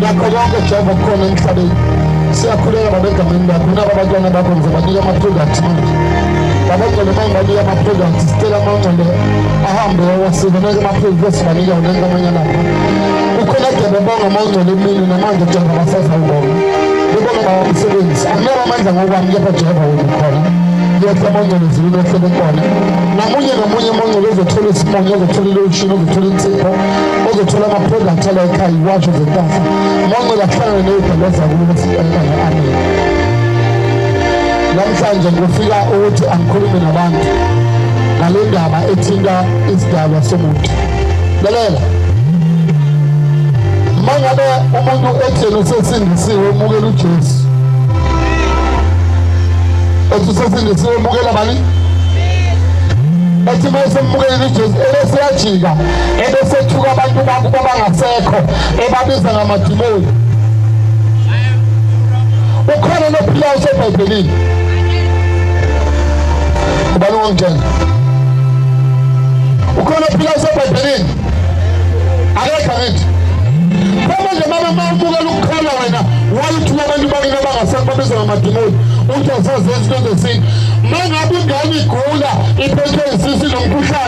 nakho konke jehova kukhona emhlabeni siyakhuleka baba egameni lakho nabo abantwana bakho ngize banike ama-product manje babagcwele mangibanike ama-product sicela amangcwele ahambe wasinoneke ama-product esibanike wona enkamanya lapho ukhona kade bebonga amangcwele emini namanje jehova basazawubonga bebonga baba umsebenzi akunaba amandla ngokwami kepha jehova wena khona yethu amangcwele ezulwini ehlele khona namunye namunye amangcwele ozothola isimonyo ozothola ilowushini ozothola insipho ozothola ama-product ala ekhaya iwasho zentasa manqela kuhlangane neyibhaleza kulokuthi enkana amen namhlanje ngifika ukuthi angikhulume nabantu ngale ndaba ethinta isidalwa somuntu lalela mangabe umuntu etheni usesindisiwe umukela ujesu ethi usesindisiwe umukela bani ethi uma esemukela ujesu ebeseyajika ebesethuka abantu bakubo abangasekho ebabiza ngamadimoni ukhona nophilayo usebhayibhelini ubani ongitshela ukhona ophilayo usebhayibhelini akekho angithi manje mama uma ubukela ukukhala wena wayithula abantu bakini abangasekho babiza ngamadimoni uthi asazenzi into zesintu mangabe ingane igula iphethwe yisisi nomkhuhlane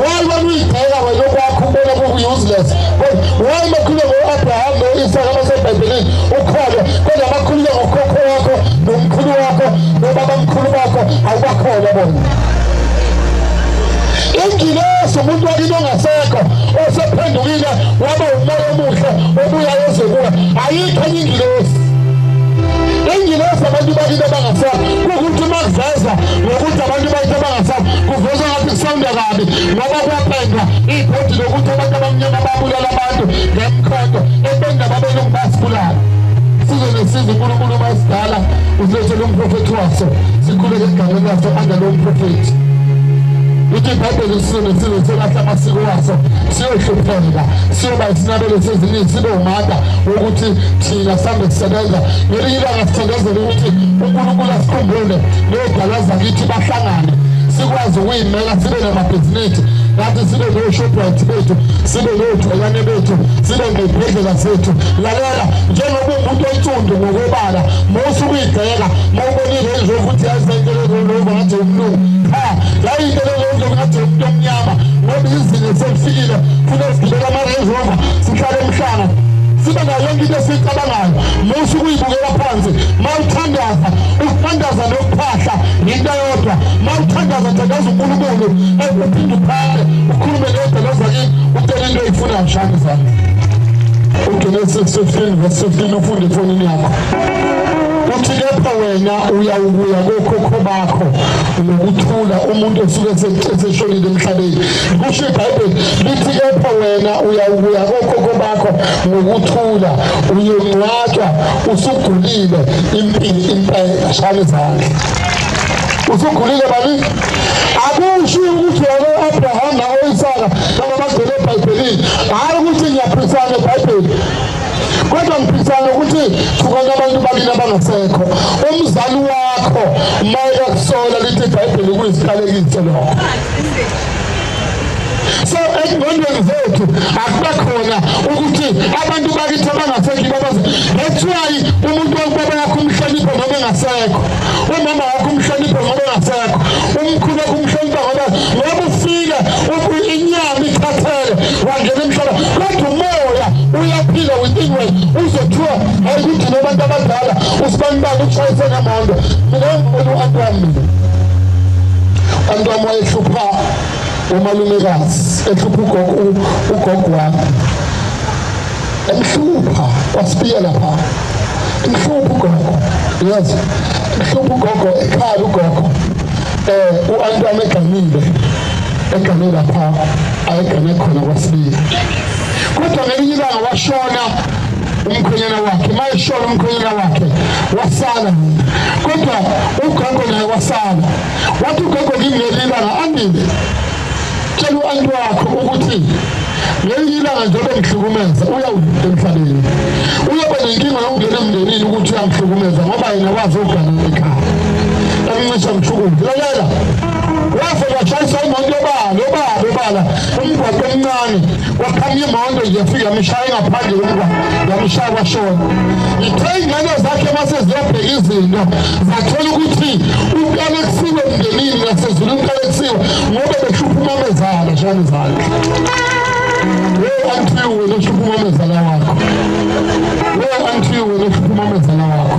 why wena uyibheka wena okwakho ubona kuku-useless why makhulume ngo-abraham no-isaka basebhayibhelini ukholwe kodwa makhulume ngokhokho wakho nomkhulu wakho nobabamkhulu bakho awubakholwa bona ingilosi umuntu wakini ongasekho osephendukile waba umoya omuhle obuya ezekuwe ayikho enye ingilosi ingilosi abantu bakini abangasekho kukuthi uma kuveza ngokuthi abantu bakini abangasekho kuveza Kusonda kabi ngoba kwapendwa ibhodi lokuthi abantu abamnyama babulala abantu ngemkhonto ebenda babelungu basibulala size nesiza unkulunkulu uma esidala usilethele umprofethi waso sikhuleke egameni laso angalo mprofethi uthi ibhayibheli size nesize selahla amasiko waso siyohlupheka siyoba isinabelo seziningi sibe umata wokuthi thina sihambe sisebenza ngelinye ilanga sithandazele ukuthi unkulunkulu asikhumbule neyodala zakithi bahlala sihlangane sikwazi ukuyimela sibe namabhizinisi ngathi sibe no-shoprite bethu sibe nodwelane bethu sibe ngebhedlela zethu lalela njengoba umuntu onsundu ngokobala musa ukuyigxeka ma ubonile nje ukuthi yayisenkelezolova ngathi umlungu cha yayinkelezolova ngathi umuntu omnyama ngoba izinga selifikile funa sigibela ama-range rover sihlale emhlanga sibe nayo yonke into esiyicabangayo musa ukuyibukela phansi ma uthandaza Ukuthandaza nokuphahla yinto yodwa. Uma uthandaza thandaza uNkulunkulu ekuphinde uphale ukhulume kodwa lozakini utele into oyifunayo shani zami. UGenesis 15 verse 15 ufunde efonini yakho. Uthi kepha wena uyawukuya kokhokho bakho ngokuthula umuntu osuke eseshonile emhlabeni. Kusho iBhayibheli lithi kepha wena uyawukuya kokhokho bakho ngokuthula uyongcwatshwa usugulile impilo impela shaya izandla usugulile bani akusho ukuthi wena u-abraham nawo-isaka noma bagcwele ebhayibhelini hhayi ukuthi ngiyaphisana ebhayibheli kodwa ngiphisana ukuthi thukana abantu bakini abangasekho umzali wakho uma ekakusola lithi ibhayibheli kuyisikalekiso lokho so ezingqondweni zethu akuba khona ukuthi abantu bakithi abangasekho ibabaza that's why umuntu wakubaba yakho umhlonipho ngoba engasekho umama wakho umhlonipho ngoba engasekho umkhulu wakho umhlonipha ngoba ngoba ufile inyama ikhathele wangena emhlaba kodwa umoya uyaphila within wena uzothiwa ayikuthi nobantu abadala usibanibani ushayise ngemondo mina ngibona u-anti wami mina anti wami ehlupha umalumekazi ehlupha ugogo ugogo wami emhlupha kwasibiya lapha mhlupha ugogo yes mhlupha ugogo ekhala ugogo eh u-antwana eganile egane lapha ayegane khona kwasibiya kodwa ngelinye ilanga washona umkhwenyana wakhe uma eshona umkhwenyana wakhe wasala kodwa ugogo naye wasala wathi ugogo kimi ngelinye ilanga andile tshela u-anti wakho ukuthi ngelinye ilanga njengoba ngihlukumeza uyawuvuka emhlabeni uyoba nenkinga yokungena emndenini ukuthi uyamhlukumeza ngoba yena wazi ukugana ekhaya emncisha mshukuzi lalela waze washayisa imoto yobala yobala yobala umgwaqo omncane kwaphuma imoto nje yafika yamshaya ngaphandle komntwana yamshaya kwashona ithe iy'ngane zakhe mase ziyobheka izinto zathola ukuthi umntwana kusiwe emndenini nasezulu umntwana kusiwe ngoba behlupha umamezala shani zakhe we anti wena uhlupha umamezala wakho we anti wena uhlupha umamezala wakho